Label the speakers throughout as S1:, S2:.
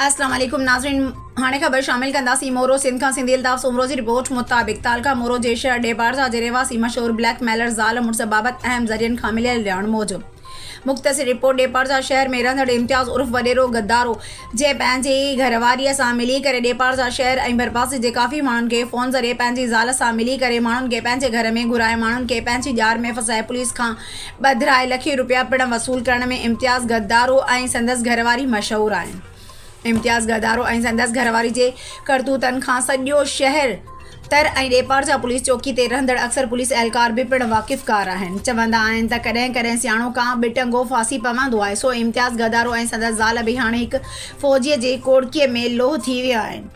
S1: اسلام عليڪم ناظرين هاڻي خبر شامل ڪنداسين مورو سنڌ کان سنڌي الطاف سومرو جي رپورٽ مطابق تعلقه مورو جي شهر ڏيبارزا جي رهواسي مشهور بليڪ ميلر زال مڙس بابت اهم ذريعن کان مليل ڄاڻ موجب مختصر رپورٽ ڏيپارزا شهر ۾ رهندڙ امتياز عرف وڏيرو غدارو جنهن پنهنجي گهرواريء سان ملي ڪري ڏيپارزا شهر ۽ ڀرپاسي جي ڪافي ماڻهن کي فون ذريعي پنهنجي زال سان ملي ڪري ماڻهن کي پنهنجي گهر ۾ گهرائي ماڻهن کي پنهنجي ڄار ۾ ڦاسائي پوليس کان ٻڌرائي لکين روپيا پڻ وصول ڪرڻ ۾ امتياز گدارو ۽ سندس گهرواري مشهور آهن. امتياز گدارو ۽ سندس گهرواري جي ڪرتوتن کان سڄو شهر تر ۽ ڏيپارجا پوليس چوڪي تي رهندڙ اڪثر پوليس اهلڪار به پڻ واقفڪار آهن. چوندا آهن ته ڪڏهن ڪڏهن سياڻو ڪانء به ٽنگو ڦاسي پوندو آهي، سو امتياز گدارو ۽ سندس زال به هاڻي هڪ فوجيء جي ڪوڙڪيء ۾ لوهه ٿي ويا آهن.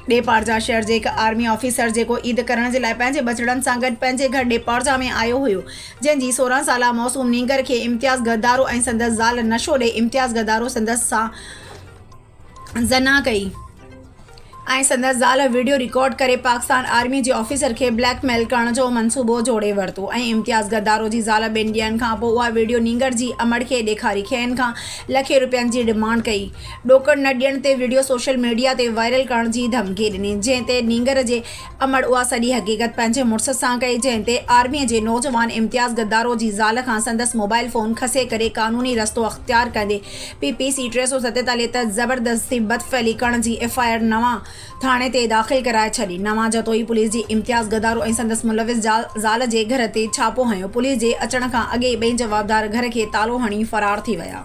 S1: ڏيپارجا شهر جي هڪ آرمي آفيسر جيڪو عيد ڪرڻ جي لاء پنهنجي ٻچڙن سان گڏ پنهنجي گهر ڏيپارجا ۾ آيو هيو جنهن جي سورهن سالا معصوم نينگر کي امتياز غدارو ۽ سندس زال نشو ڏئي امتياز غدارو سندس سان زنا ڪئي ۽ سندس زال وڊيو رڪارڊ ڪري پاڪستان آرمي جي آفيسر کي بليڪ ميل ڪرڻ جو منصوبو جوڙي ورتو ۽ امتياز غدارو جي زال ٻن ڏينهن کان پوء اها وڊيو نينگر جي امڙ کي ڏيکاري کين کان لکين روپين جي ڊمانڊ ڪئي ڏوڪڙ نه ڏيڻ تي وڊيو سوشل ميڊيا تي وائرل ڪرڻ جي ڌمڪي ڏني جنهن تي نينگر جي امڙ اها سڄي حقيقت پنهنجي مڙس سان ڪئي جنهن تي آرمي جي نوجوان امتياز غدارو جي زال کان سندس موبائل فون کسي ڪري قانوني رستو اختيار ڪندي پي پي سي ٽي سؤ ستيتاليهه تحت زبردستي بدفعلي ڪرڻ جي ايف آء آر نواء ٿاڻي تي داخل ڪرائي ڇڏي نواء جتوئي پوليس جي امتياز غدارو ۽ سندس ملوث زال جي گهر تي ڇاپو هنيو پوليس جي اچڻ کان اڳي ئي ٻئي جوابدار گهر کي تالو هڻي فرار ٿي ويا.